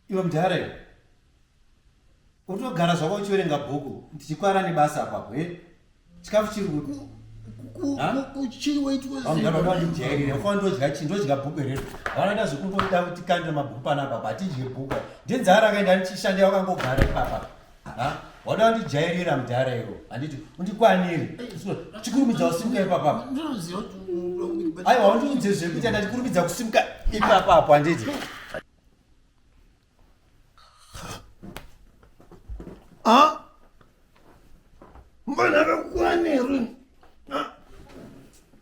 iwe mudhara iwe utogara zvako uchiverenga bhuku ndichikwara nebasa apapo e chikafu chiri kuti ndodya bhuku rero vanoita zvekungoda kuti kandira mabhuku panapa batidye bhuku ndenzara akaenda ndichishandira wakangogara ipapa wadandijairira mudhara iwo anditi undikwaniri chikurumidza kusimuka ipapapa aiwa undiudze zvekuita ndandikurumidza kusimuka ipapapo anditi mwana kakwanirwi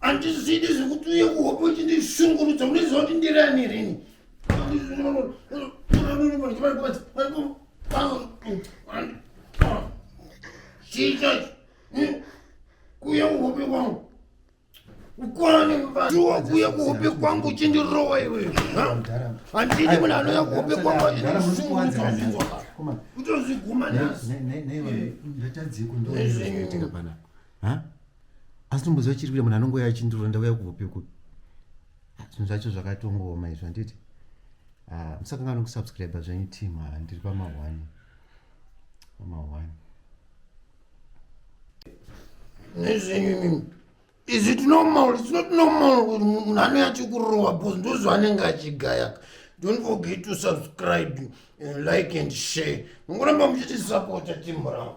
andizidi zvekuti uye kuhope uchindishungurudza unoziva kuti ndirani rini chichacho kuya kuhope kwangu ukwane mvaiwa kuya kuhope kwangu uchindirowa iwe andidi munhu anouya kuhope kwangu achindishungurudza kutozviguma nasi ha asi tomboziva chiri kuita munhu anongouya achindiro ndauya kubvopiko ah, zvinhu zvacho zvakatongooma izvo handiti ah, musakanga nokusubscribe zvenyu team ah, ndiri pamahwani pamahwani nezvenyu is it normal it's not normal kuti munhu anouya achikurowa bcause ndozvaanenge achigayaka don't forget to subscribe and like and share mungoramba muchiti support team rangu